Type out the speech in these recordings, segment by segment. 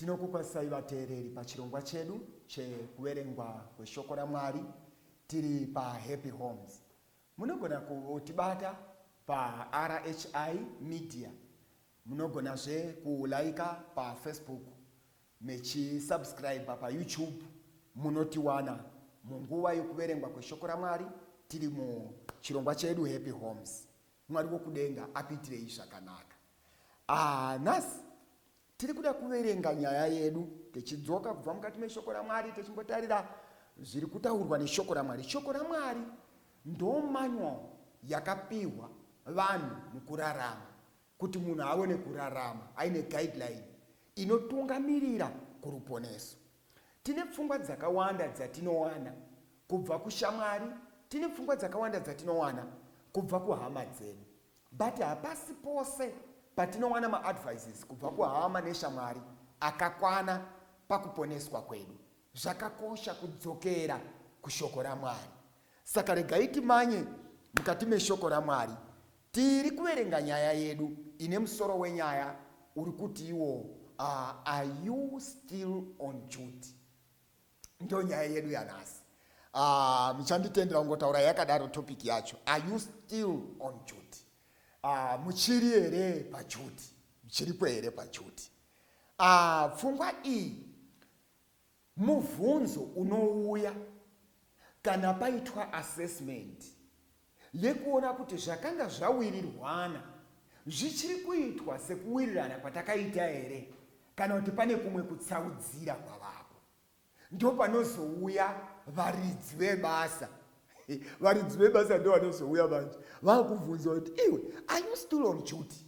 tinokukwazisai vateereri pachirongwa chedu chekuverengwa kweshoko ramwari tiri pahappy homes munogona kutibata parhi media munogonazve kulaika pafacebook Mechi subscriber pa YouTube munotiwana munguva yokuverengwa kweshoko raMwari tiri mu chirongwa chedu Happy Homes. Mwari wokudenga akuitirei zvakanaka. Ah, nhasi tiri kuda kuverenga nyaya yedu techidzoka kubva mukati meshoko raMwari techimbotarira zviri kutaurwa neshoko raMwari. Shoko raMwari ndo manual yakapihwa vanhu mukurarama. Kuti munhu aone kurarama aine guideline inotungamirira kuruponeso, tine pfungwa dzakawanda dzatinowana kubva kushamwari, tine pfungwa dzakawanda dzatinowana kubva kuhama dzedu. But hapasi pose patinowana maadvices kubva kuhama neshamwari akakwana pakuponeswa kwedu. Zvakakosha kudzokera kushoko raMwari. Saka regai timanye mukati meshoko raMwari. Tiri kuverenga nyaya yedu ine musoro wenyaya uri kuti iwo uh, are you still on duty? Ndo nyaya yedu yanhasi. Uh, muchanditendera kungotaura yakadaro topic yacho. Are you still on duty? Uh, muchiri here paduty? Muchiripo here paduty? Uh, pfungwa iyi Mubvunzo unouya kana paitwa assessment yekuona kuti zvakanga zvawirirwana zvichiri kuitwa sekuwirirana kwatakaita here kana kuti pane kumwe kutsaudzira kwavapo. Ndopanozouya varidzi vebasa. Varidzi vebasa ndovanozouya manje vakubvunza kuti iwe are you still on duty?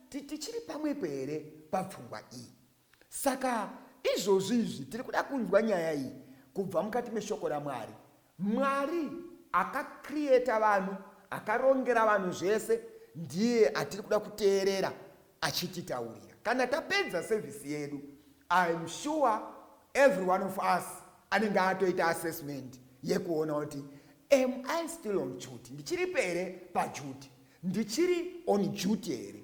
Tichiri pamwepo here papfungwa iyi? Saka izvozvi izvi tiri kuda kunzwa nyaya iyi kubva mukati meshoko raMwari. Mwari akacreata vanhu, akarongera vanhu zvese, ndiye atiri kuda kuteerera achititaurira. Kana tapedza service yedu, I am sure every one of us anenge atoita assessment yekuona kuti am I still on duty? Ndichiripo here paduty? Ndichiri on duty here?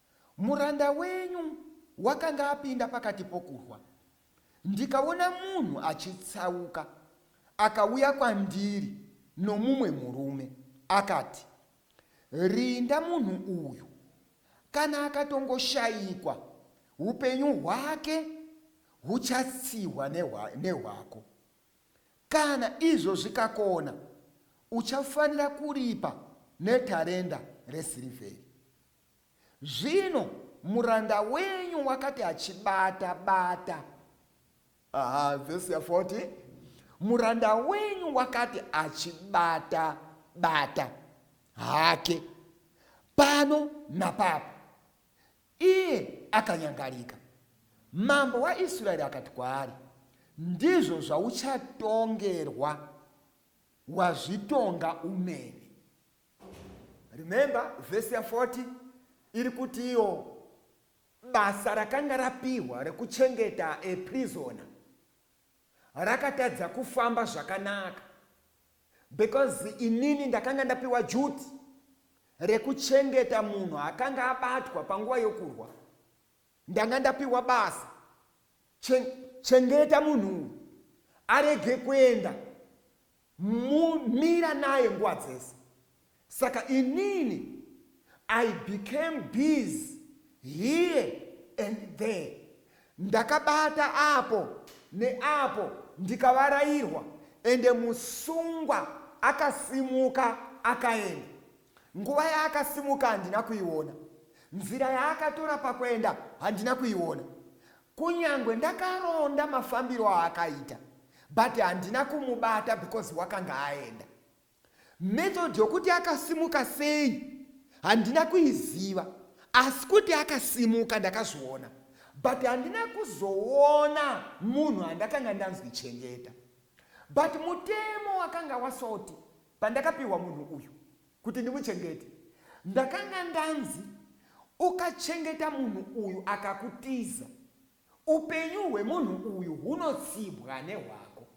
Muranda wenyu wakanga apinda pakati pokurwa, ndikaona munhu achitsauka akauya kwandiri nomumwe murume, akati, Rinda munhu uyu, kana akatongoshayikwa, upenyu hwake huchatsihwa nehwako. Kana izvo zvikakona, uchafanira kuripa netarenda resirivheri. Zvino muranda wenyu wakati achibata bata. Aha, vhesi ya 40. Muranda wenyu wakati achibata bata hake pano napapo, iye akanyangarika. Mambo waIsraeri akati kwaari, ndizvo zvauchatongerwa wazvitonga umene. remember vhesi ya 40 iri kutiwo basa rakanga rapihwa rekuchengeta eprisona rakatadza kufamba zvakanaka because inini ndakanga ndapiwa juti rekuchengeta munhu akanga abatwa panguva yokurwa ndanga ndapiwa basa chengeta munhu arege kuenda Mumira naye nguva dzese. Saka inini I became busy here and there. Ndakabata apo neapo ndikavarairwa ende musungwa akasimuka akaenda. Nguva yaakasimuka handina kuiona. Nzira yaakatora pakuenda handina kuiona. Kunyangwe ndakaronda mafambiro aakaita but handina kumubata because wakanga aenda. Method yokuti akasimuka sei handina kuiziva asi kuti akasimuka ndakazviona but handina kuzoona munhu andakanga ndanzwi chengeta. But mutemo wakanga wasoti. Pandakapiwa munhu uyu kuti ndimuchengete, ndakanga ndanzi ukachengeta munhu uyu akakutiza, upenyu hwemunhu uyu hunotsibwa nehwako.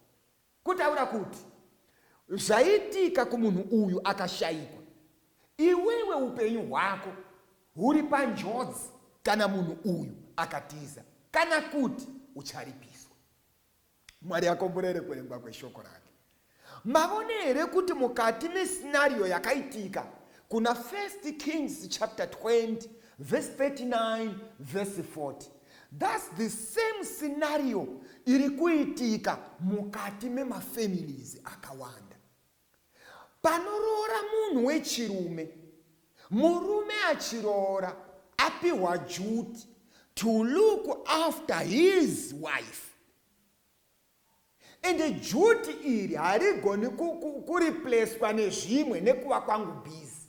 Kutaura kuti zvaitika kumunhu uyu akashaikwa, iwewe upenyu hwako huri panjodzi kana munhu uyu akatiza kana kuti ucharipiswa. mwari akomborere kurengwa kweshoko rake mavone here kuti mukati mesinario yakaitika kuna first kings chapter 20 verse 39 verse 40 thus the same sinario iri kuitika mukati memafamilies akawanda Panoroora munhu wechirume, murume achiroora apihwa duty to look after his wife and duty iri harigoni kureplacwa nezvimwe nekuva kwangu busy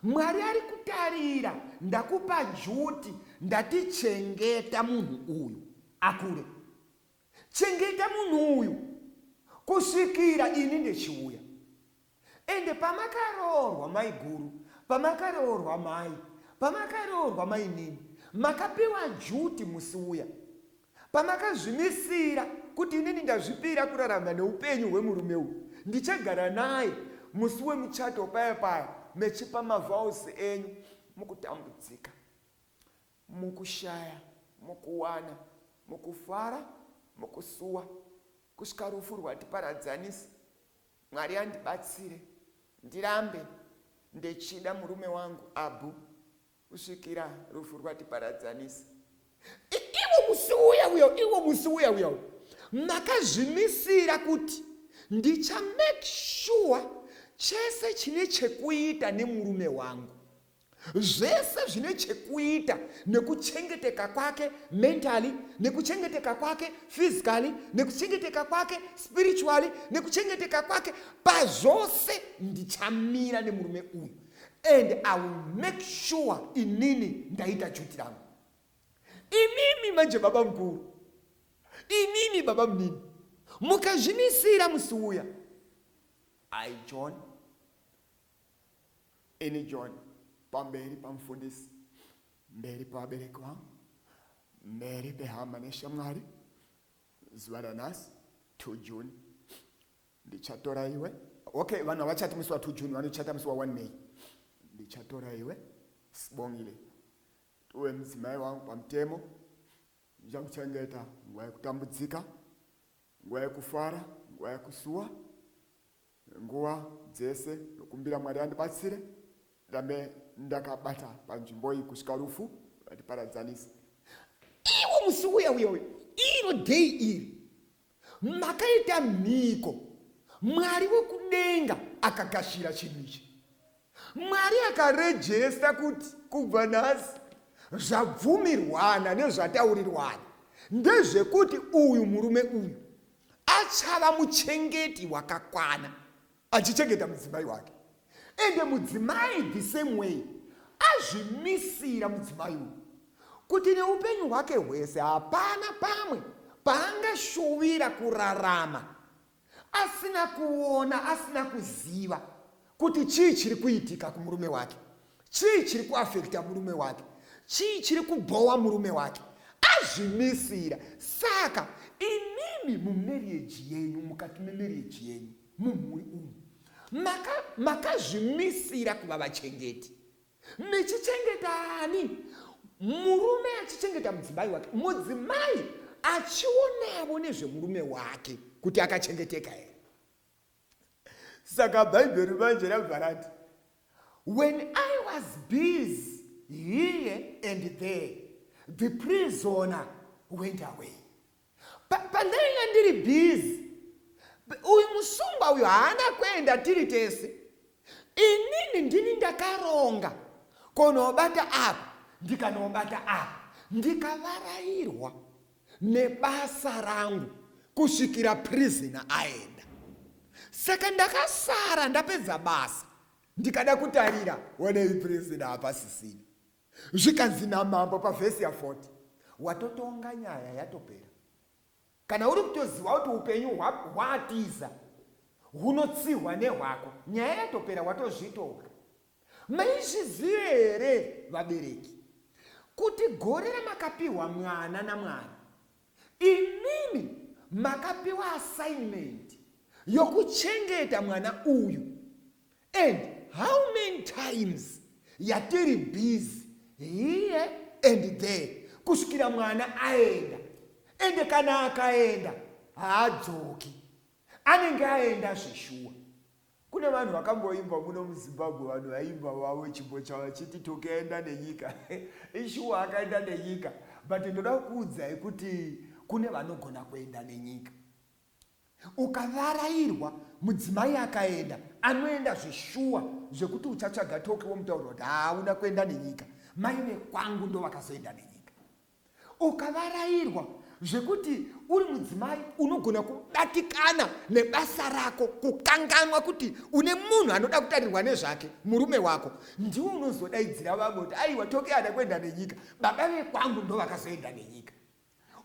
mwari ari kutarira ndakupa duty ndatichengeta munhu uyu akure Chengeta munhu uyu kusvikira ini ndechiuya. Ende pamakaroorwa maiguru, pamakaroorwa mai, pamakaroorwa mainini, makapiwa juti musi uya. Pamakazvimisira kuti inini ndazvipira kurarama neupenyu hwemurume uyu, ndichagara naye musi wemuchato paya paya mechipa mavowels enyu mukutambudzika. Mukushaya, mukuwana, mukufara, mukusuwa, kusvika rufu rwatiparadzanisa, Mwari andibatsire ndirambe ndechida murume wangu Abu kusvikira rufu rwatiparadzanisa. Iwo musi uya uya, iwo musi uya uya, makazvimisira kuti ndicha make sure chese chine chekuita nemurume wangu. zvese zvine chekuita nekuchengeteka kwake mentally nekuchengeteka kwake physically nekuchengeteka kwake spiritually nekuchengeteka kwake pazvose ndichamira nemurume uyu and i will make sure inini ndaita juti rangu imimi manje baba mukuru imimi baba munini mukazvimisira musi uya i john Ini John pamberi pamufundisi, mberi pevabereki vangu, mberi pehama neshamwari, zuva ranhasi 2 June ndichatora iwe. Okay, vanhu havachati musi wa 2 June, vanochata musi wa 1 May. Ndichatora iwe Sibongile uve mudzimai wangu pamutemo, ndichakuchengeta nguva yekutambudzika, nguva yekufara, nguva yekusuwa, Nguva dzese ndokumbira Mwari vandibatsire ndirambe ndakabata panzvimbo iyi kusvika rufu rwatiparadzanisa. Iwo musi uya uya uya, iro dheyi iri, makaita mhiko, Mwari wekudenga akagashira chinhu ichi. Mwari akarejesta kuti kubva nhasi zvabvumirwana nezvataurirwana ndezvekuti uyu murume uyu achava muchengeti wakakwana achichengeta mudzimai wake ende mudzimai the same way azvimisira mudzimai uyu kuti neupenyu hwake hwese hapana pamwe paangashuvira kurarama asina kuona asina kuziva kuti chii chiri kuitika kumurume wake chii chiri kuafekta murume wake chii chiri kubhowa murume wake azvimisira saka imimi mumarieji yenyu mukati memarieji yenyu mumhuri umu makazvimisira maka kuva vachengeti mechichengetani murume achichengeta mudzimai wake mudzimai achionavo nezvemurume wake kuti akachengeteka here saka bhaibheri manje rabva rati when i was busy here and there the prisoner went away pandaive ndiri busy uyu musungwa uyu haana kuenda tiri tese inini ndini ndakaronga konobata apa ndikanobata apa ndikavarairwa nebasa rangu kusvikira prisoner aenda. Saka ndakasara ndapedza basa ndikada kutarira wanei prisoner hapasisina. Zvikanzi namambo pavhesi ya 40 watotonga nyaya yatopera. Kana uri kutoziva kuti upenyu hwatiza hunotsihwa nehwako nyaya yatopera watozvitonga. Maizviziva here vabereki kuti gore ramakapiwa mwana naMwari imimi makapiwa assignment yokuchengeta mwana uyu and how many times yatiri busy here and there kusvikira mwana aenda ende kana akaenda haadzoki anenge aenda zveshuwa Kune vanhu vakamboimba muno muZimbabwe vanhu vaimba vavo chimbo chavo vachiti Toke aenda nenyika ishuwa akaenda nenyika but ndoda kukuudzai kuti kune vanogona kuenda nenyika ukavarairwa mudzimai akaenda anoenda zveshuwa zvekuti uchatsvaga toki womutaurira kuti hauna kuenda nenyika mai vekwangu ndovakazoenda nenyika Ukavarairwa zvekuti uri mudzimai unogona kubatikana nebasa rako kukanganwa kuti une munhu anoda kutarirwa nezvake murume wako ndiwo unozodaidzira vamwe kuti aiwa toke ada kuenda nenyika baba vekwangu ndo vakazoenda nenyika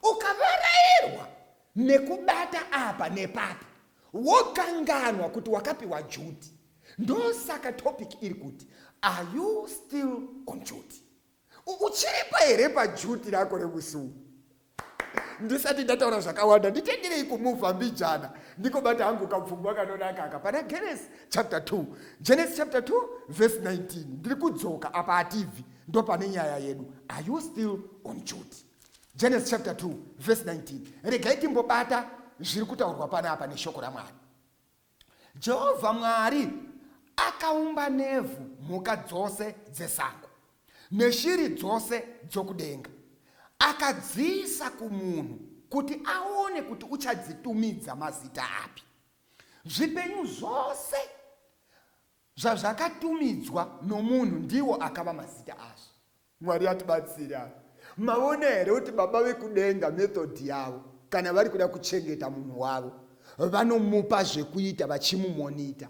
ukavarairwa nekubata apa nepapa wokanganwa kuti wakapiwa juti ndosaka topic iri kuti are you still on juti uchiripa here pajuti rako remusi uno ndisati ndataura zvakawanda nditengerei kumuvha mbijana ndikobata hangu kapfungwa kanonaka aka pana genes chapter 2 genes chapter 2 verse 19 ndiri kudzoka apa hatibvi ndo pane nyaya yedu are you still on duty genes chapter 2 verse 19 regai timbobata zviri kutaurwa pana apa neshoko ramwari Jehovha Mwari akaumba nevhu mhuka dzose dzesango neshiri dzose dzokudenga. Akadziisa kumunhu kuti aone kuti uchadzitumidza mazita api. Zvipenyu zvose zvazvakatumidzwa nomunhu ndiwo akava mazita azvo. Mwari atibatsire apa. Maona here kuti Baba vekudenga method yavo kana vari kuda kuchengeta munhu wavo vanomupa zvekuita vachimumonita.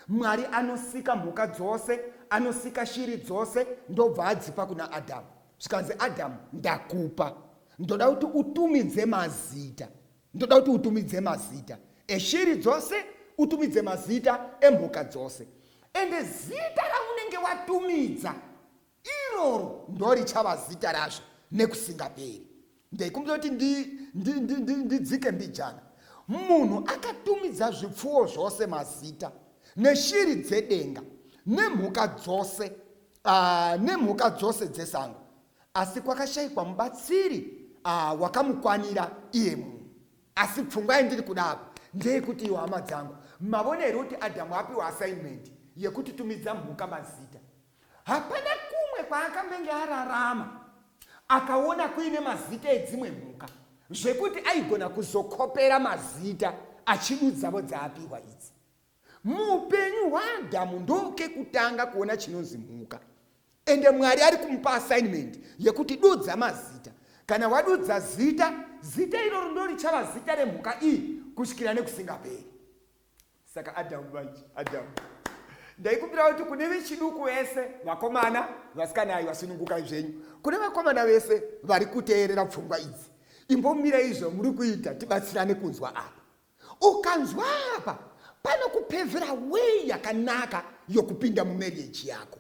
Mwari anosika mhuka dzose, anosika shiri dzose ndobva adzipa kuna Adamu. Zvikanzi Adamu ndakupa. Ndoda kuti utumidze mazita. Ndoda kuti utumidze mazita eshiri dzose, utumidze mazita emhuka dzose. Ende zita raunenge watumidza iroro ndorichava zita razvo nekusingaperi. Ndaikumbira kuti ndidzike mbijana. Munhu akatumidza zvipfuwo zvose mazita neshiri dzedenga nemhuka dzose, ah, nemhuka dzose dzesango. Asi kwakashaikwa mubatsiri ah, wakamukwanira iye munhu. Asi pfungwa yandiri kuda apa ndeyekuti iwo hama dzangu mavona here kuti Adamu apiwa assignment yekuti tumidza mhuka mazita. Hapana kumwe kwaakambenge ararama akaona kuine mazita edzimwe mhuka zvekuti aigona kuzokopera mazita achidudzavo dzaapiwa idzi. Muupenyu hwaAdhamu ndokekutanga kuona chinonzi mhuka. Ende Mwari ari kumupa assignment yekuti dudza mazita. Kana wadudza zita, zita iroro ndorichava zita remhuka iyi kusvikira nekusingaperi. Saka Adhamu manje, Adhamu. Ndaikumbira kuti kune vechiduku vese, vakomana, vasikana ayi vasunungukai zvenyu. Kune vakomana vese vari kuteerera pfungwa idzi. Imbomirei zvamuri kuita tibatsirane kunzwa apa. Ukanzwa apa panokupevera way yakanaka yokupinda mumarriage yako.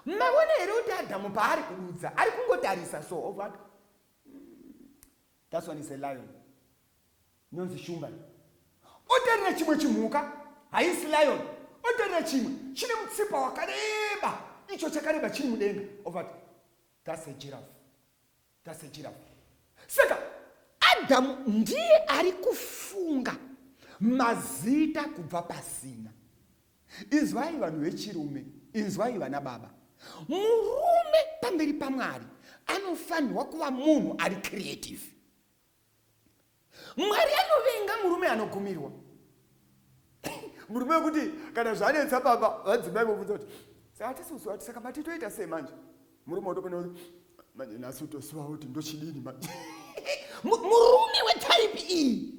Maona here kuti Adamu paari kududza ari kungotarisa so ovati that's one is a lion inonzi shumba otarira chimwe chimhuka haisi lion otarira chimwe chine mutsipa wakareba icho chakareba chiri mudenga ovati that's a giraffe tasechiravo saka adhamu ndiye ari kufunga mazita kubva pasina inzwai vanhu vechirume inzwai vana baba murume pamberi pamwari anofanirwa kuva munhu ari creative mwari anovenga murume anogumirwa murume wekuti kana zvanetsa baba vadzimai vobvunza kuti hatisi kusuwa kuti saka mati toita sei manje murume wotopona kuti manje nhasi utosuwa kuti ndochidini manje murume wetaipi iyi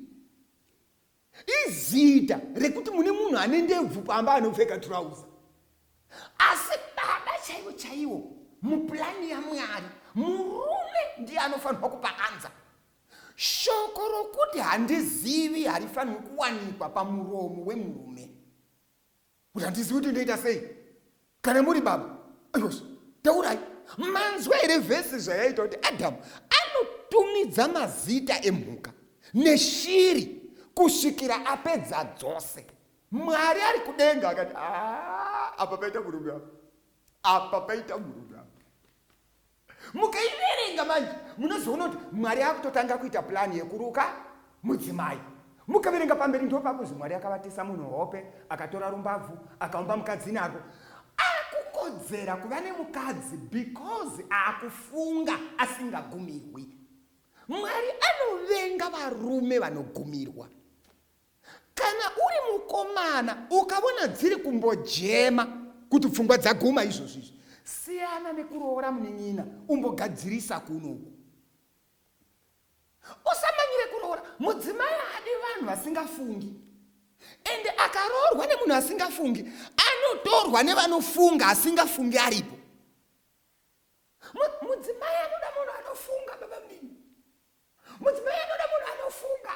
Izita rekuti mune munhu ane ndebvu pamba anopfeka trouser. Asi baba chaivo chaivo muplan yaMwari murume ndiye anofanirwa kupa answer. Shoko rokuti handizivi harifanirwi kuwanikwa pamuromo wemurume. kuti handizivi kuti ndoita sei kana muri baba ayos taurai manzwa here vhesi zvayaita kuti adamu anotumidza mazita emhuka neshiri kusvikira apedza dzose mwari ari kudenga akati ah, apa paita murume apa apa paita murume apa mukaiverenga manje munozoona kuti mwari akutotanga kuita plani yekuruka mudzimai mukaverenga pamberi ndo pakuzi mwari akavatisa munhu hope akatora rumbabvu akaumba mukadzi nako akukodzera kuva nemukadzi because akufunga asingagumirwi mwari anovenga varume vanogumirwa Kana uri mukomana ukavona dziri kumbojema kuti pfungwa dzaguma izvozvo izvi, siyana nekuroora munin'ina umbogadzirisa kunoku. Usamanyire kuroora mudzimai adi vanhu vasingafungi. Ende akaroorwa nemunhu asingafungi anotorwa nevanofunga asingafungi aripo. Mudzimai anoda munhu anofunga baba mdini. mudzimai anoda munhu anofunga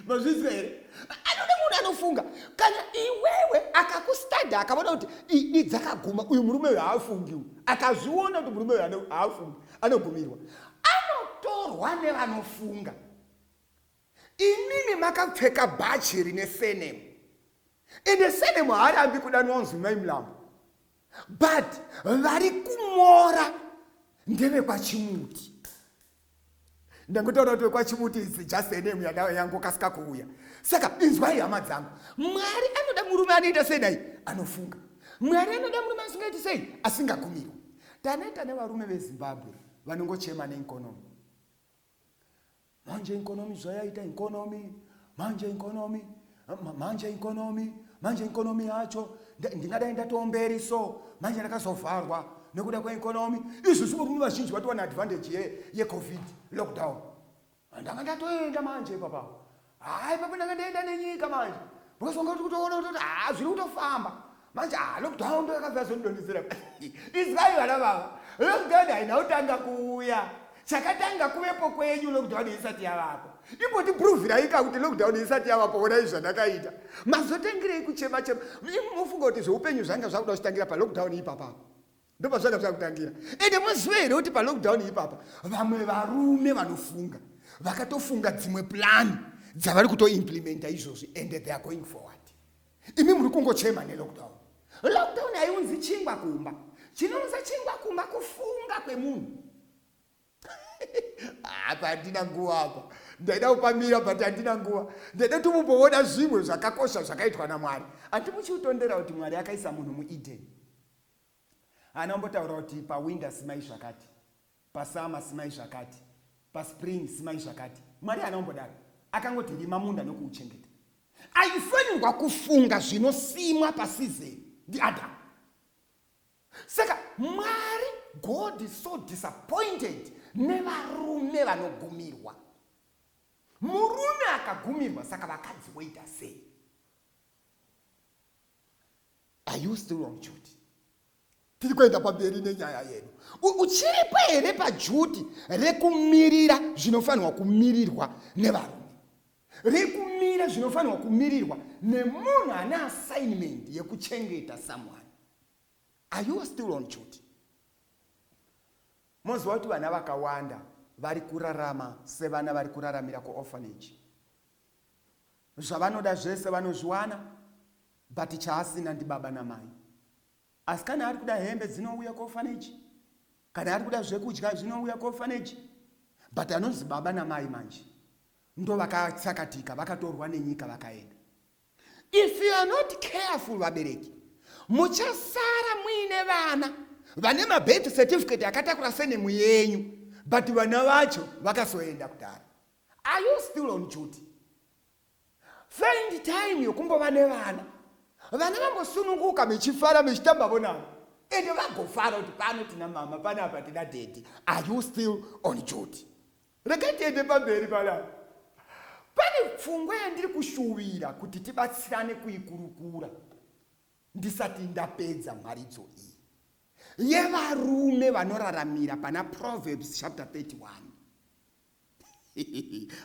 mazvinzwa here anoda munhu anofunga kana iwewe akakustada akaona kuti idi dzakaguma uyu murume uyu haafungiwo akazviona kuti murume uyu haafungi anogumirwa anotorwa nevanofunga imimi makapfeka bhachi rine senemu ende senemu haarambi kudanwa nzwi mai mulambo but vari kumora ndevekwachimuti ndangotaura kuti wekwachimuti is just a name yada yangokasika kuuya saka inzwai hama dzangu mwari anoda murume anoita sei dai anofunga mwari anoda murume asingaiti sei asingagumirwa taneta nevarume vezimbabwe vanongochema neinkonomi manje inkonomi zvayaita inkonomi manje inkonomi manje ikonomi manje ikonomi yacho ndingadai ndatowo mberi so manje ndakazovharwa nekuda kweikonomi izvi zvimurume vazhinji vatowana advantage ye yecovid lockdown ndanga ndatoenda manje ipapa hayi papa ndanga ndaenda nenyika manje because wanga kuti kutoona kutoti haa zviri kutofamba manje ah, lockdown ndo yakabva yazondidonhedzera izivai vana vava lockdown haina kutanga kuuya chakatanga kuvepo kwenyu lockdown isati yavapo imbotipruvhiraika kuti lockdown isati yavapo onai zvandakaita mazotangirei kuchema chema mufunga kuti zveupenyu zvanga zvakuda kuchitangira palockdown ipapapo ndopazvanga zvakutangira ende maziva here kuti palockdown ipapa vamwe varume vanofunga vakatofunga dzimwe plani dzavari kutoimplimenta izvozvi and they are going forward imi muri kungochema nelockdown lockdown haiunzi chingwa kumba chinounza chingwa kumba kufunga kwemunhu apa handina nguva apa ndaida kupamira but handina nguva ndaida kuti mumboona zvimwe zvakakosha zvakaitwa namwari handimuchiutondera kuti mwari akaisa munhu mueden Haana kumbotaura kuti pawinter simai zvakati, pasummer simai zvakati, paspring simai zvakati. Mwari haana kumbodaro. Akangoti rima munda nokuuchengeta. Aifanirwa kufunga zvinosimwa pasizeni ndiAdhamu. Saka Mwari, God is so disappointed nevarume vanogumirwa. Murume akagumirwa, saka vakadzi voita sei? are you still on duty tiri kuenda pamberi nenyaya yedu uchiripo here pajuti rekumirira zvinofanirwa kumirirwa nevarume rekumira zvinofanirwa kumirirwa nemunhu ane assignment yekuchengeta someone are you still on duty moziva kuti vana vakawanda vari kurarama sevana vari kuraramira kuorphanage Zvavanoda zvese vanozviwana but chaasina ndibaba namai. Asi kana arikuda hembe dzinouya kuorphanage kana arikuda zvekudya zvinouya kuorphanage but anonzi baba namai manje ndovakatsakatika vakatorwa nenyika vakaenda. If you are not careful vabereki muchasara muine vana vane mabirth certificate akatakura senemu yenyu but vana vacho vakasoenda kudhara. Are you still on duty? Find time yokumbova nevana. Vana vambosununguka mechifara mechitambavo navo. Ende vagofara kuti pano tina mama pano apa tina daddy. Are you still on duty? Regai tiende pamberi panapa. Pane pfungwa yandiri kushuvira kuti tibatsirane kuikurukura ndisati ndapedza mharidzo iyi yevarume vanoraramira pana Proverbs chapter 31.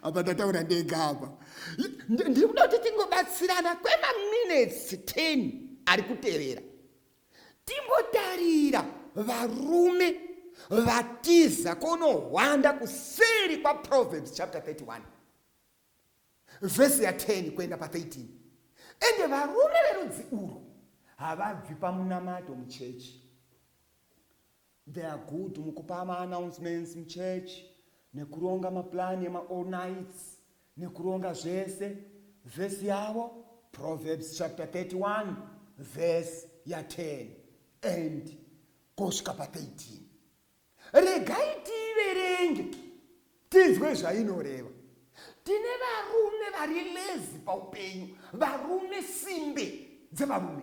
apa ndataura ndega apa ndiri kuda kuti tingobatsirana kwemaminutes 10 ari kutevera timbotarira varume vatiza kunohwanda kuseri kwaproverbs chapter 31 vhesi ya 10 kuenda pa13 ende varume verudzi urwu havabvi pamunamato muchechi They are good mukupa ma announcements muchurch nekuronga ma plan ema all nights nekuronga zvese. Verse yavo Proverbs chapter 31 verse ya 10 and kosvika pa 13. Regai tiiverenge tinzwe zvainoreva tine varume vari lezi paupenyu varume simbe dzevarume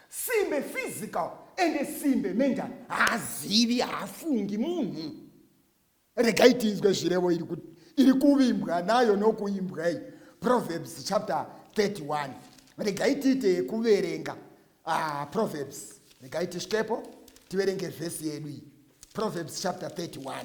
simbe physical ende simbe mental haazivi haafungi munhu regai tinzwe zvirevo iri kuti iri kuvimbwa nayo nokuimbwa iyi proverbs chapter 31 regai tiite yekuverenga ah, proverbs regai tisvikepo tiverenge vhesi yedu iyi proverbs chapter 31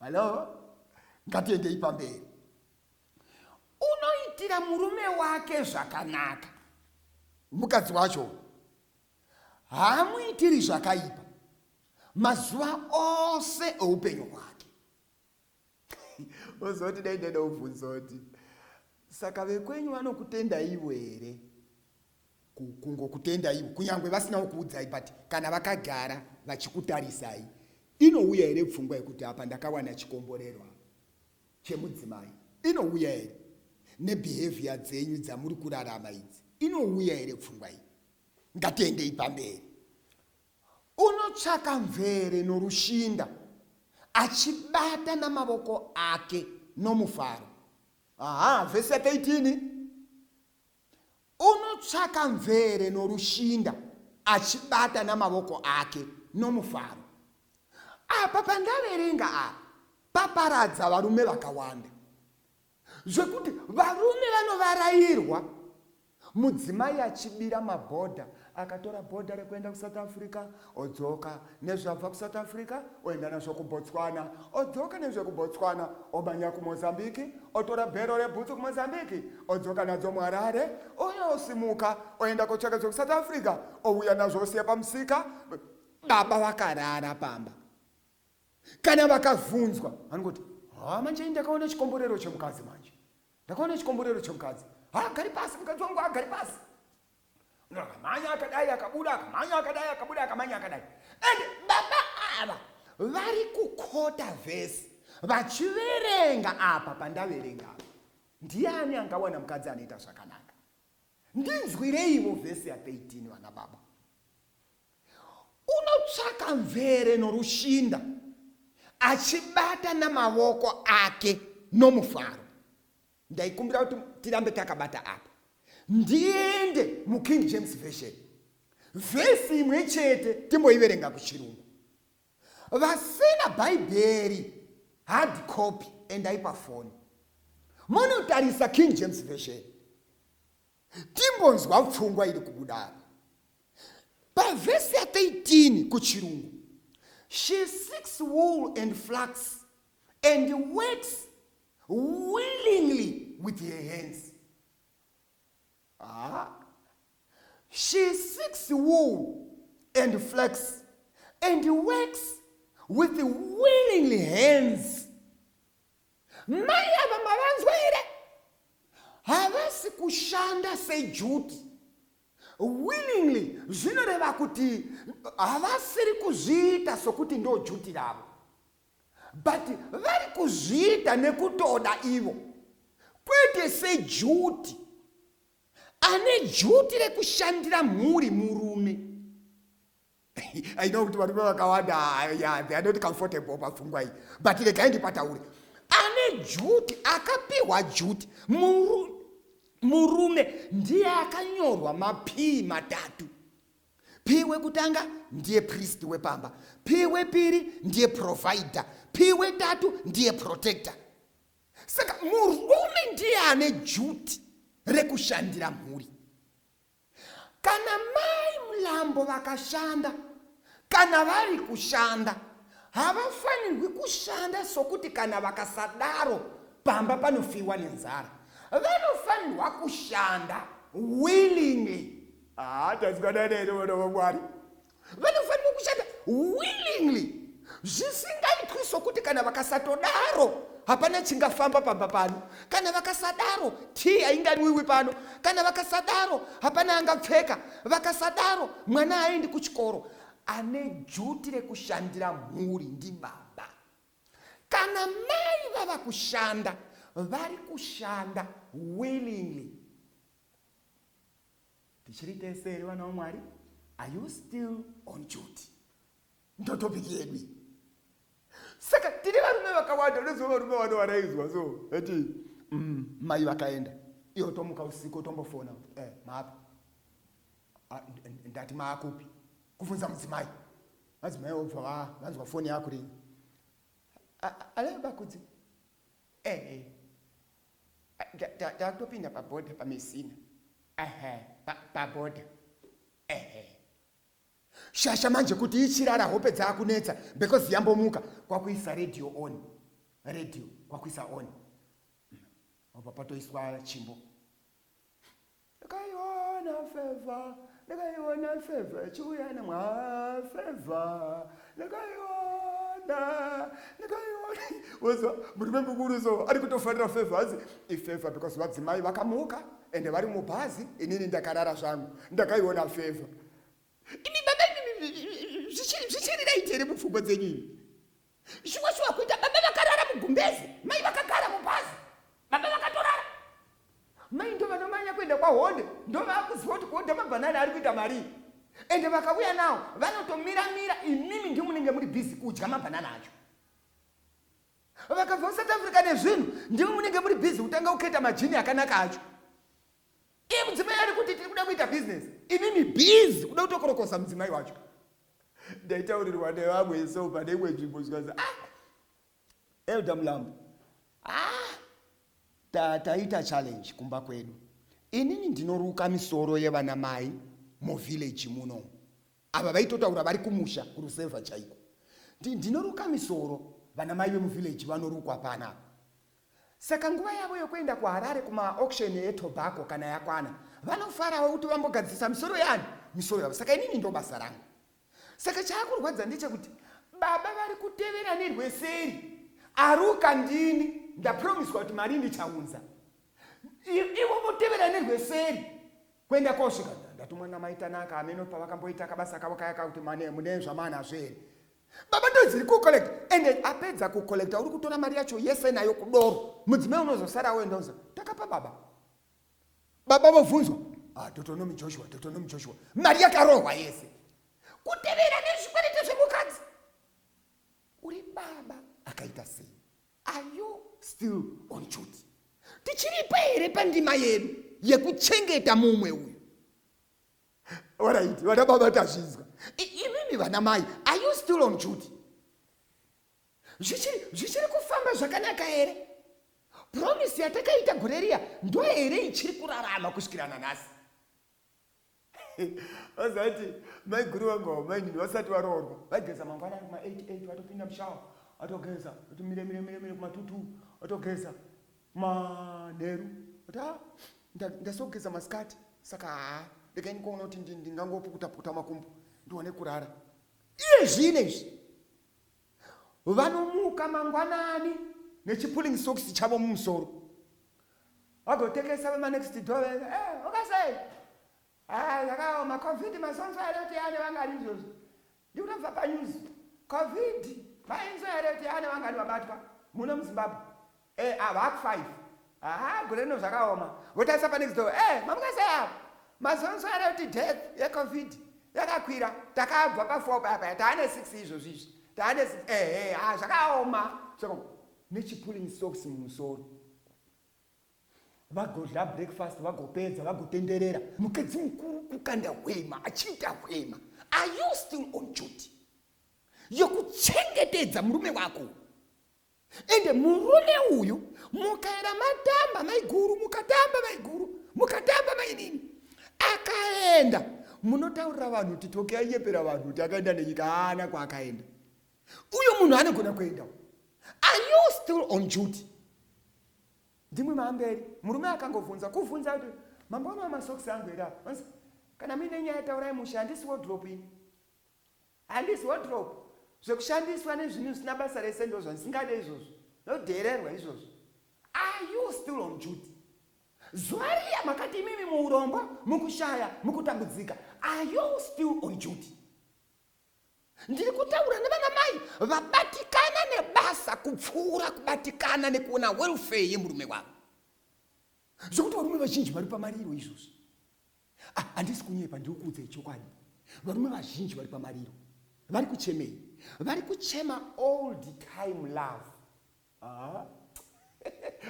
Hello? Ngatiendei pamberi. Unoitira murume wake zvakanaka. Mukadzi wacho haamuitiri zvakaipa mazuva ose oupenyu hwake. Ozoti dai ndeda ubvunzoti saka vekwenyu vanokutendaivo here? kungokutendaiwo kunyange vasinawo kuudzai but kana vakagara vachikutarisai inouya here pfungwa yekuti apa ndakawana chikomborerwa chemudzimai inouya here nebehavior dzenyu dzamuri kurarama idzi inouya here pfungwa iyi ngatiendei pamberi unotsvaka mvere norushinda achibata namavoko ake nomufaro aha vhesi 13 Unotsvaka mvere norushinda, achibata namavoko ake nomufaro. Apa pandaverenga apa paparadza varume vakawanda zvekuti varume vanovarairwa mudzimai achibira mabhodha Akatora bhodha rekuenda kuSouth Africa odzoka nezvabva kuSouth Africa oenda nazvo kuBotswana odzoka nezvekuBotswana omhanya kuMozambique otora bhero rebhutsu kuMozambique odzoka nadzo muHarare ouya osimuka oenda kotsvaka zvekuSouth Africa ouya nazvo osiya pamusika baba vakarara pamba kana vakavhunzwa vanongoti ha manje ndakaona chikomborero chemukadzi manje ndakaona chikomborero chemukadzi ha gari pasi mukadzi wangu agari pasi Munhu akamhanya akadai akabuda akamhanya akadai akabuda akamhanya akadai. And baba ava vari kukota vhesi vachiverenga apa pandaverenga apa. Ndiani angawana mukadzi anoita zvakanaka? Ndinzwireivo vhesi ya 13 vana baba. Unotsvaka mvere norushinda achibata namavoko ake nomufaro. Ndaikumbira kuti tirambe takabata apa. Ndiende muKing James Version. Vhesi imwe chete timboiverenga kuchirungu. Vasina Bhaibheri hard copy endai pafoni. Monotarisa King James Version. Timbonzwa pfungwa iri kubuda apa. Pavhesi ya 13 kuchirungu. She seeks wool and flax and works willingly with her hands ah. she seeks wool and flax and works with willingly hands mai ava mavanzwa here havasi kushanda sejuti willingly zvinoreva kuti havasiri kuzviita sokuti ndojuti ravo but vari kuzviita nekutoda ivo kwete sejuti ane juti rekushandira mhuri murume i know kuti varume vakawanda ah, yeah, they are not comfortable pafungwa iyi but regai ndipataure ane juti akapiwa juti murume ndiye akanyorwa mapii matatu Pii wekutanga ndiye priest wepamba, pii wepiri ndiye provider, pii wetatu ndiye protector. Saka murume ndiye ane juti rekushandira mhuri. Kana mai Mlambo vakashanda, kana vari kushanda, havafanirwi kushanda sokuti kana vakasadaro pamba panofiwa nenzara. Vanofanirwa kushanda willingly haa tanzwanana here vana vamwari vanofanirwa kushanda willingly zvisingaitwi sokuti kana vakasatodaro hapana chingafamba pamba pano kana vakasadaro tii ainganwiwi pano kana vakasadaro hapana angapfeka vakasadaro mwana haaendi kuchikoro ane juti rekushandira mhuri ndibaba kana mai vava kushanda vari kushanda willingly Tichiri tese here vana vaMwari? Are you still on duty? Ndotopiki yedu iyi. Saka tine varume vakawanda, unoziva varume vano varaizwa so vati mm, mai vakaenda, iwo tomuka usiku tombofona kuti eh, maapa ah, ndati maakupi, kuvhunza mudzimai, madzimai obva va vanzwa foni yakuringa, aleo bakudzi eh, eh. takutopinda paboda pamesina ehe paboda ehe shasha manje kuti ichirara hope dzaakunetsa because yambomuka kwakuisa radio on radio kwakuisa on apa patoiswa chimbo Ndakaiona feva, ndakaiona feva ichiuya nemwa feva, ndakaiona, ndakaiona. Wozwa murume mukuru so ari kutofarira feva, hanzi ifeva because vadzimai vakamuka ende vari mubhazi, inini ndakarara zvangu, ndakaiona feva. Imi baba imi zvichiri right here mupfungwa dzenyu imi? shuwa shuwa kuita baba vakarara mugumbezi mai vakagara mubhazi baba vakatorara mai ndo vanomanya kuenda kwahonde ndo vaakuziva kuti kuhodha mabhanani ari kuita marii ende vakauya nawo vanotomira mira imimi ndi munenge muri bhizi kudya mabhanana acho vakabva kusouth africa nezvinhu ndimi munenge muri bhizi kutanga kuketa majini akanaka acho iye mudzimai ari kuti tiri kuda kuita bhizinesi imimi bhizi kuda kutokorokosa mudzimai wacho ndaitaurirwa nevamwe so pane imwe nzvimbo zvikanzi ah elder mulambo ah taita ta challenge kumba kwedu inini ndinoruka misoro yevana mai muvhillaji muno ava vaitotaura vari kumusha kurusevha chaiko ndinoruka misoro vana mai vemuvhillaji vanorukwa panapa Saka nguva yavo yokuenda kuHarare kumaauction etobacco kana yakwana, vanofarawo kuti vambogadzirisa misoro yaani? Misoro yavo. Saka inini ndobasa rangu. Saka chaakurwadza ndechekuti baba vari kutevera nerweseri. Aruka ndini, ndapromiswa kuti mari ndichaunza. Ivo votevera nerweseri kuenda kosvika ndatumwa namai Tanaka ameno pavakamboita kabasa kavo kaya kakuti mane mune zvamana zveri Baba ndozi iri kucollect and apedza kucollecta uri kutora mari yacho yese nayo kudoro. Mudzimai unozosara woenda uza takapa baba. Baba vovhunzwa ah, Deuteronomy Joshua, Deuteronomy Joshua. Mari yakarohwa yese. Kutevera nezvikwerete zvemukadzi. Uri baba akaita sei? Are you still on duty? Tichiripa here pandima yedu yekuchengeta mumwe uyu? Alright, vana baba tazvinzwa. Imimi vana mai, are you still on duty? Zvichiri zvichiri kufamba zvakanaka here? Promise yatakaita gore riya ndo here ichiri kurarama kusvikira nanhasi? Vazati mai guru vangu avo mai ndini vasati varoorwa vaigeza mangwana ari kuma 88 vatopinda mushawa vatogeza kuti mire mire mire mire kuma 22 vatogeza Manheru kuti ah nda- ndasogeza masikati saka haa regai ndikoona kuti ndi- ndingangopukutapukuta makumbo ndiwane kurara. Iye zvino izvi vanomuka mangwanani nechipulling socks chavo mumusoro vagotekesa vemanext door veve eh, ukasei Ah, zvakaoma covid masonso anoti ane vangari izvozvo Ndikuda kubva panews. Covid mainzwa here kuti yava nevangani vabatwa muno muZimbabwe? Eh ava haku five. Aha gore rino zvakaoma. Votarisa panext door. Eh mamuka sei ava? Mazonzwa here kuti death yeCovid yakakwira? Takabva pafour paya paya taane six izvozvi izvi. Taane six ehe ah zvakaoma. Saka nechipulling socks mumusoro. vagodla breakfast vagopedza vagotenderera mukadzi mukuru kukanda hwema achiita hwema are you still on duty yokuchengetedza murume wako ende murume uyu mukaera matamba maiguru mukatamba maiguru mukatamba mainini akaenda munotaurira vanhu kuti toke aiyepera vanhu kuti akaenda nenyika haana kwaakaenda uyo munhu anogona kuenda are you still on duty ndimwe maamberi murume akangovhunza kuvhunza kuti mambo anova masokisi angu here apa onzi kana muine nyaya taurai musha handisi wodrop ini handisi wodrop zvekushandiswa nezvinhu zvisina basa rese ndo zvandisingade izvozvo ndodheererwa izvozvo are you still on duty zuva riya makati imimi muurombo mukushaya mukutambudzika are you still on duty ndiri kutaura nevana mai vabatikana nebasa kupfuura kubatikana nekuona welfare yemurume wavo zvekuti varume vazhinji vari pamariro izvozvi ah, handisi kunyepa ndiri kuudza ichokwadi varume vazhinji vari pamariro vari kuchemei vari kuchema all the time love ah.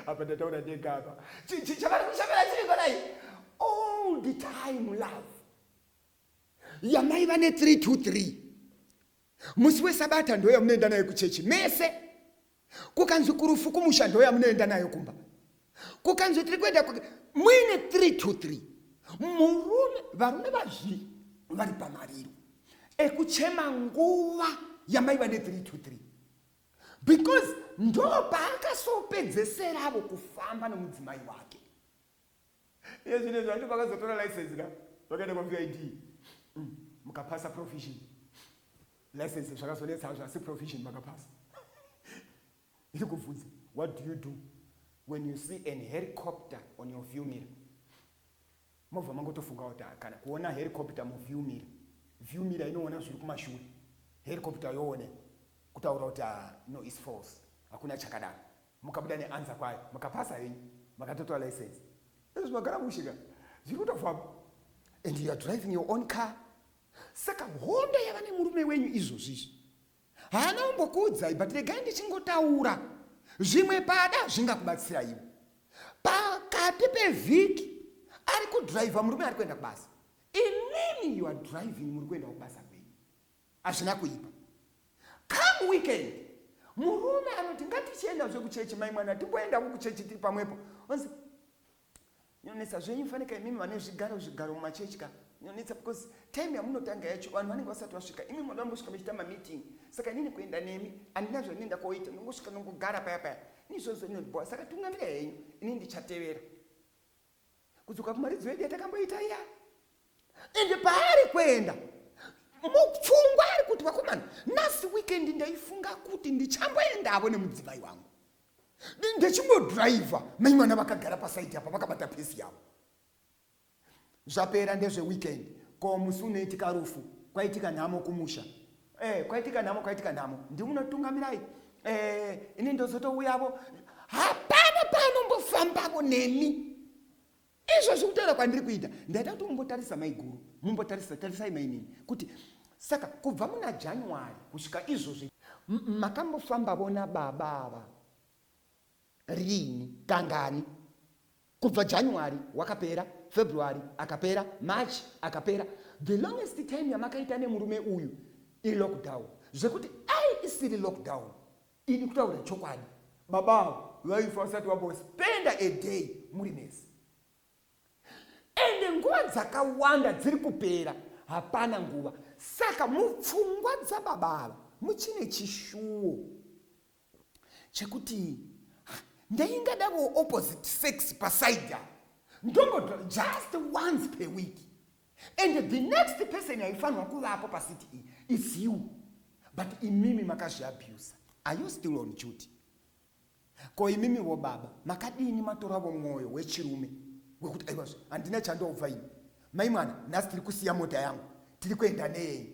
apa ndataura ndega apa chavari kuchemera chiri konai all the time love yamaiva ne 323 musi wesabata ndo yamunoenda nayo kuchechi mese kukanzi kurufu kumusha ndo yamunoenda nayo kumba kukanzi tiri kuenda muine 323 murume varume vazviri vari pamariro ekuchema nguva yamaiva ne 323 because ndo paakasoopedzeseravo kufamba nomudzimai wake Iye zvine zvacho pakazotora license ka vakaenda kwaVID mm, mukapasa provision license zvakazonetsa hazvo asi provision makapasa iri kubvunza what do you do when you see an helicopter on your view mirror mobva mangotofunga kuti ah, kana kuona helicopter muview mirror view mirror inoona zviri kumashure helicopter yoone kutaura kuti ah, no is false hakuna chakadaro Mukabuda ne answer kwayo makapasa henyu makatotora license ezvo magara mushe ka zviri kutofamba and you are driving your own car saka hondo yava nemurume wenyu izvozvi izvi haana umbokuudzai but regai ndichingotaura zvimwe pada zvingakubatsiraiwo pakati pevhiki ari kudriver murume ari kuenda kubasa inini you are driving muri kuenda kubasa kwenyu Hazvina kuipa. Come weekend. Murume anoti ngatichienda zve kuchechi mai mwana timboendawo kuchechi tiri pamwepo. Onzi nyonetsa zvenyu fanika imimi vane zvigaro zvigaro mumachechi ka nyonetsa because time yamunotanga yacho vanhu vanenge vasati vasvika imimi vanoda mbosvika mechita mameeting saka inini kuenda nemi handina zvandinoenda koita ndongosvika ndongogara paya paya ini zvozonoti boa saka tungamira henyu ini ndichatevera kudzoka kumaridzo yedu yatakamboita iya ende paari kuenda mupfungwa ari kuti vakomana nhasi weekend ndaifunga kuti ndichamboendavo nemudzimai wangu ndechimodhiraivha mai mwana vakagara pasaidi apa vakabata pesi yavo zvapera ndezveweekend ko musi unoitika rufu kwaitika nhamo kumusha eh, kwaitika nhamo kwaitika nhamo ndimunotungamirai eh, ini ndozotouyavo hapana paanombofambavo nemi izvo zvekutaura kwandiri kuita ndaida kuti mumbotarisa maiguru mumbotarisa tarisai mainini kuti saka kubva muna january kusvika izvozvi makambofambavo nababa ava Riini? Kangani? Kubva January wakapera, February akapera, March akapera. The longest time yamakaita nemurume uyu ilockdown. Zvekuti dai isiri lockdown idi kutaura chokwadi baba avo vaifa vasati vambospenda a day muri mese ende nguva dzakawanda dziri kupera hapana nguva saka mupfungwa dzababa ava muchine chishuwo chekuti ndaingadawo opposite sex paside apo ndongodwa just once per week and the next person aifanirwa kuvapo pacity iyi is you but imimi makazviabusa are you still on duty ko imimi vo baba makadini matoravo mwoyo wechirume wekuti aivazve handina chandoubva ini mai mwana nhasi tiri kusiya mota yangu tiri kuenda neyenyu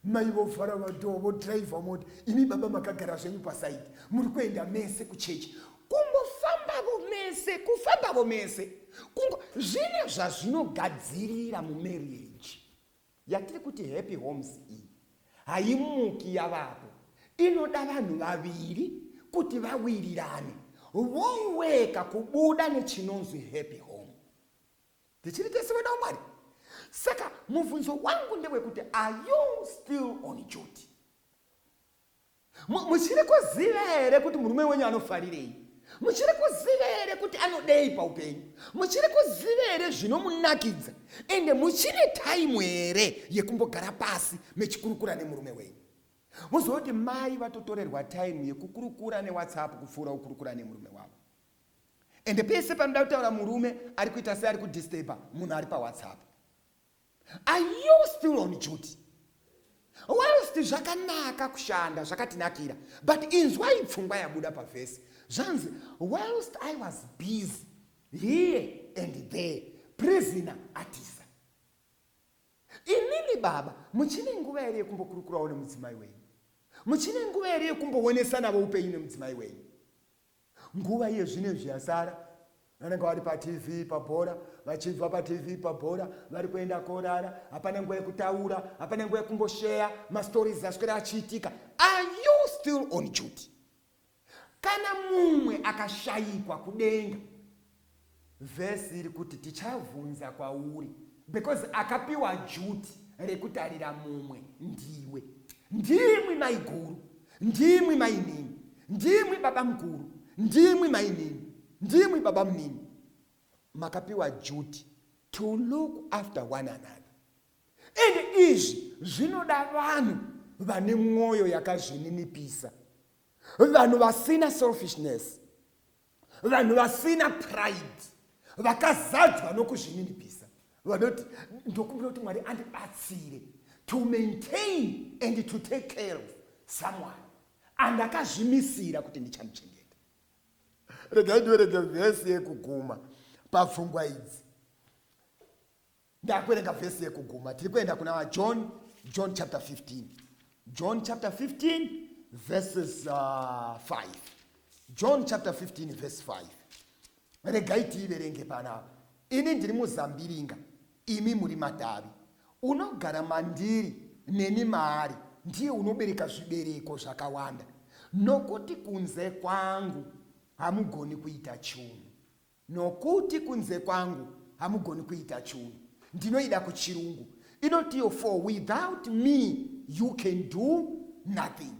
mai vovhara vadhoo vodhiraivha moti imi baba makagara zvenyu pasaidi muri kuenda mese kuchechi kungofambavo mese kufambavo mese kungo zvine zvazvinogadzirira mumarriage yatiri kuti happy homes iyi haimuki yavapo inoda vanhu vaviri kuti vawirirane voweka kubuda nechinonzwi happy home tichiri tese vana wamwari saka mubvunzo wangu ndewekuti are you still on duty muchiri kuziva here kuti murume wenyu anofarirei muchiri kuziva here kuti anodei paupenyu muchiri kuziva here zvinomunakidza ende muchine taimu here yekumbogara pasi mechikurukura nemurume wenyu muzoti mai vatotorerwa taimu yekukurukura newhatsapp kupfuura kukurukura nemurume wavo ende pese panoda kutaura murume ari kuita seari kudisturba munhu ari pawhatsapp are you still on duty whilst zvakanaka kushanda zvakatinakira but inzwai pfungwa yabuda pavhesi zvanzi whilst i was busy here and there prisoner atisa imimi baba muchine nguva here yekumbokurukurawo nemudzimai wenyu muchine nguva here yekumboonesanavo upenyu nemudzimai wenyu Nguva iye zvino izvi yasara vanenge vari patv pabhora vachibva patv pabhora vari kuenda korara hapana nguva yekutaura hapana nguva yekumbosheya mastories aswera achiitika are you still on duty kana mumwe akashayikwa kudenga Verse iri kuti tichavhunza kwauri because akapiwa duty rekutarira mumwe ndiwe. Ndimwi maiguru, ndimwi mainini, ndimwi baba mukuru, ndimwi mainini, ndimwi baba munini. Makapiwa duty to look after one another and izvi zvinoda vanhu vane mwoyo yakazvininipisa vanhu vasina selfishness Vanhu vasina pride vakazadzwa nokuzvininipisa vanoti ndokumbira kuti mwari andibatsire to maintain and to take care of someone andakazvimisira kuti ndichamuchengeta regai ndiverege vhesi yekuguma papfungwa idzi Ndakuerenga vhesi yekuguma. Tiri kuenda kuna John, John chapter 15. John chapter 15 verses uh, 5. John chapter 15 verse 5. Regai tiiverenge panapa. Ini ndiri muzambiringa, imi muri matavi. Unogara mandiri neni maari ndiye unobereka zvibereko zvakawanda nokuti kunze kwangu hamugoni kuita chunhu Nokuti kunze kwangu hamugoni kuita chunhu. Ndinoida kuchirungu. Inotiwo for without me you can do nothing.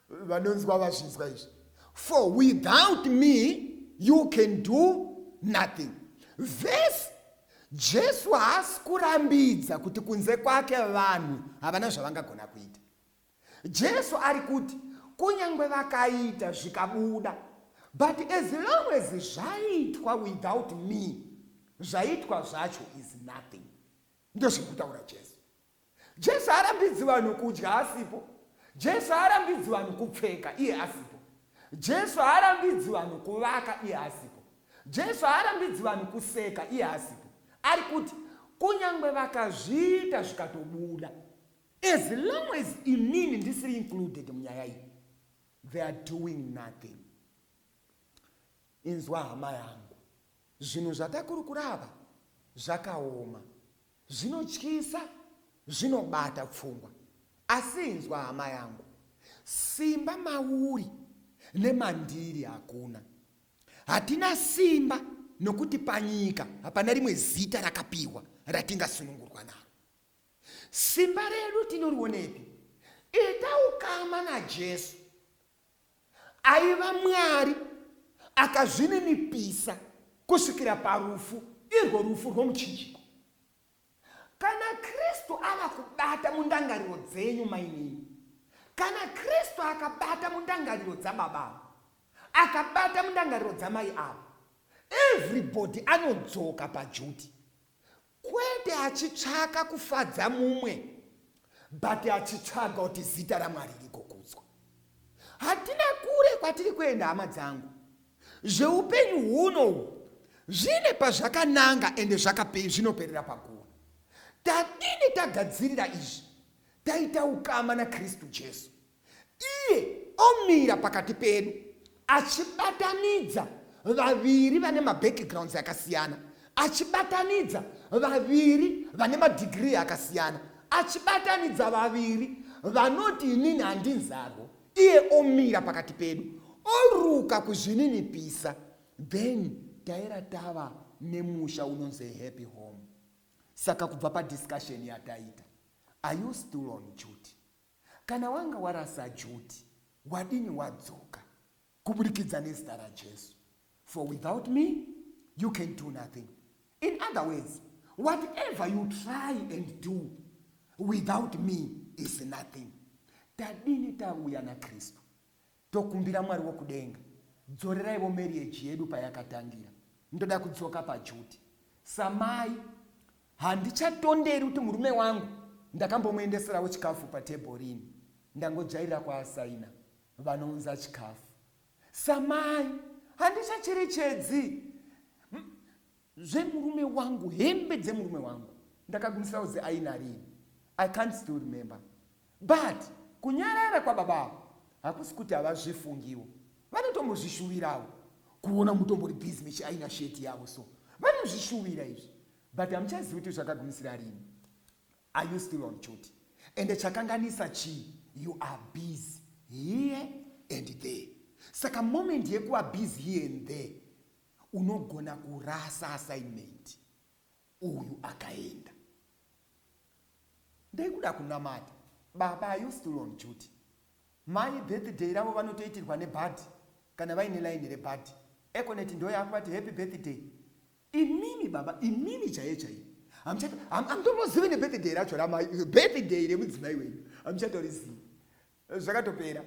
Vanonzwa vazvinzwa izvi. For without me you can do nothing. Vese Jesu haasi kurambidza kuti kunze kwake vanhu havana zvavangagona kuita. Jesu ari kuti kunyangwe vakaita zvikabuda but as long as zvaitwa without me zvaitwa zvacho is nothing ndozviri kutaura jesu jesu haarambidzi vanhu kudya asipo jesu haarambidzi vanhu kupfeka iye asipo jesu haarambidzi vanhu kuvaka iye asipo jesu haarambidzi vanhu kuseka iye asipo ari kuti kunyange vakazviita zvikatobuda As long as inini ndisiri included munyaya iyi they are doing nothing inzwa hama yangu zvinhu zvatakurukura ava zvakaoma zvinotyisa zvinobata pfungwa asi inzwa hama yangu simba mauri nemandiri hakuna hatina simba nokuti panyika hapana rimwe zita rakapiwa ratingasunungurwa naro Simba redu tinorionepi? Ita ukama naJesu. Aiva Mwari akazvininipisa kusvikira parufu, irwo rufu rwomuchinjiko. Kana Kristu ava kubata mundangariro dzenyu, mainini, kana Kristu akabata mundangariro dzababa ava, akabata mundangariro dzamai ava, everybody anodzoka pajuti. Kwete achitsvaka kufadza mumwe but achitsvaga kuti zita raMwari rigokudzwa. Hatina kure kwatiri kuenda hama dzangu. Zveupenyu huno uhu zvine pazvakananga ende zvakape zvinoperera pakuwa. Tadini tagadzirira izvi taita ukama naKristu Jesu. Iye omira pakati pedu achibatanidza vaviri vane mabackgrounds akasiyana, achibatanidza vaviri vane madhigirii akasiyana, achibatanidza vaviri vanoti inini handinzarwo. Iye omira pakati pedu oruka kuzvininipisa, then taera tava nemusha unonzi a happy home. Saka kubva padiscussion yataita, are you still on duty? Kana wanga warasa Judy wadini wadzoka kuburikidza nezita raJesu for without me you can do nothing in other words whatever you try and do without me is nothing tadini tauya naKristu Tokumbira Mwari wokudenga dzoreraivo marriage yedu payakatangira ndoda kudzoka paduty samai handichatonderi kuti murume wangu ndakambomuendeseravo chikafu patable rini ndangojairira kwaasaina vanounza chikafu samai handichacherechedzi zvemurume wangu hembe dzemurume wangu ndakagumisira kuzi aina rini i can't still remember but kunyarara kwababa avo hakusi kuti havazvifungiwo vanotombozvishuvirawo kuona mutombori busy mechiaina sheti yavo so vanozvishuvira izvi but hamuchazivi kuti zvakagumisira rini are you still on duty ende chakanganisa chii you are busy here and there saka moment yekuva busy here and there Unogona kurasa assignment uyu akaenda. Ndaikuda kunamata. Baba are you still on duty? Mai birthday ravo vanotoitirwa nebhadhi kana vaine line rebhadhi. Econet ndoyaku vati happy birthday. Imimi baba, imimi chaiye chaiye. Hamchati hamtombozive nebirthday racho ramai birthday remudzimai wenyu. Hamchatorizii. Zvakatopera.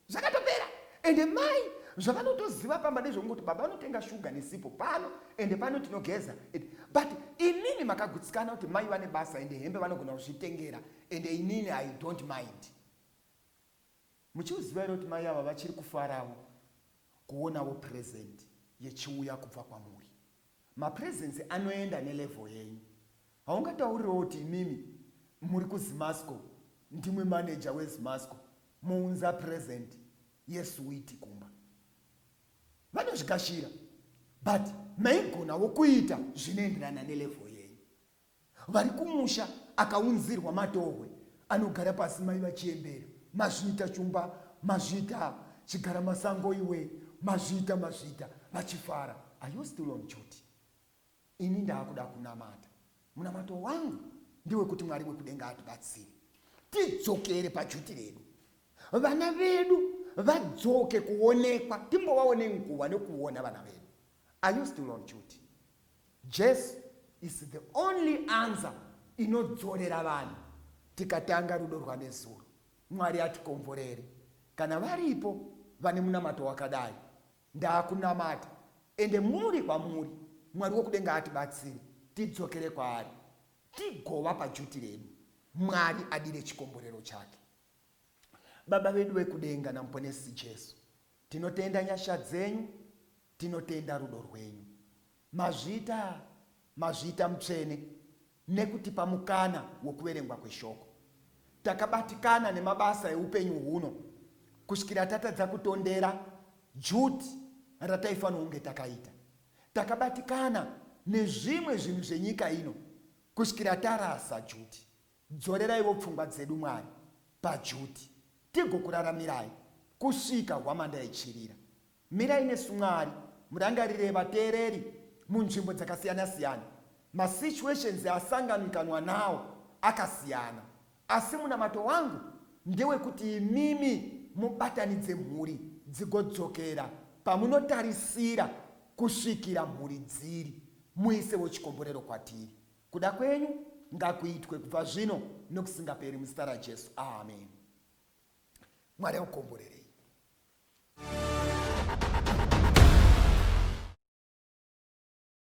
Zvakatopera. Ende mai zvavanotoziva pamba ndezvekungoti baba vanotenga shuga nesipo pano ende pano tinogeza ende but inini makagutsikana kuti mai vane basa ende hembe vanogona kuzvitengera ende inini i don't mind muchiuziva ere kuti mai ava vachiri kufaravo kuonawo present yechiuya kubva kwamuri Ma presents anoenda ne level yenyu. Haungataurirewo kuti imimi muri ku Zimasco ndimwi manager we Zimasco mounza present ye sweet kumba. Vanozvigashira but maigonawo kuita zvinoenderana ne level yenyu. Vari kumusha akaunzirwa matohwe anogara pasi mai vachiembera mazviita shumba mazviita chigara masango iwe mazviita mazviita vachifara are you still on duty ini ndaakuda kunamata munamato wangu ndewekuti mwari wekudenga atibatsire tidzokere pajuti redu vana vedu vadzoke kuonekwa timbovaone nguva nekuona vana vedu are you still on duty Jesu is the only answer inodzorera vanhu tikatanga rudo rwanezuro mwari atikomborere kana varipo vane munamato wakadai ndaakunamata ende muri kwamuri mwari wokudenga atibatsire tidzokere kwaari tigova pajuti redu mwari adire chikomborero chake baba vedu vekudenga namuponesi jesu tinotenda nyasha dzenyu Tinotenda rudo rwenyu Mazvita Mazvita Mutsvene nekutipa mukana wekuverengwa kweshoko. Takabatikana nemabasa eupenyu huno kusvikira tatadza kutondera juti rataifanira kunge takaita. Takabatikana nezvimwe zvinhu zvenyika ino kusvikira tarasa juti. Dzoreraivo pfungwa dzedu, Mwari, paJudy, tigokuraramirai kusvika hwamanda ichirira. Mirai nesu, Mwari, murangarire vateereri munzvimbo dzakasiyana-siyana. Masituations asanganwikanwa nawo akasiyana, asi munamato wangu ndewekuti imimi mubatanidze mhuri dzigodzokera pamunotarisira kusvikira mhuri dziri muisevo chikomborero kwatiri. Kuda kwenyu ngakuitwe kubva zvino nokusingaperi muzita raJesu. Ameni. Mwari akukomborerei.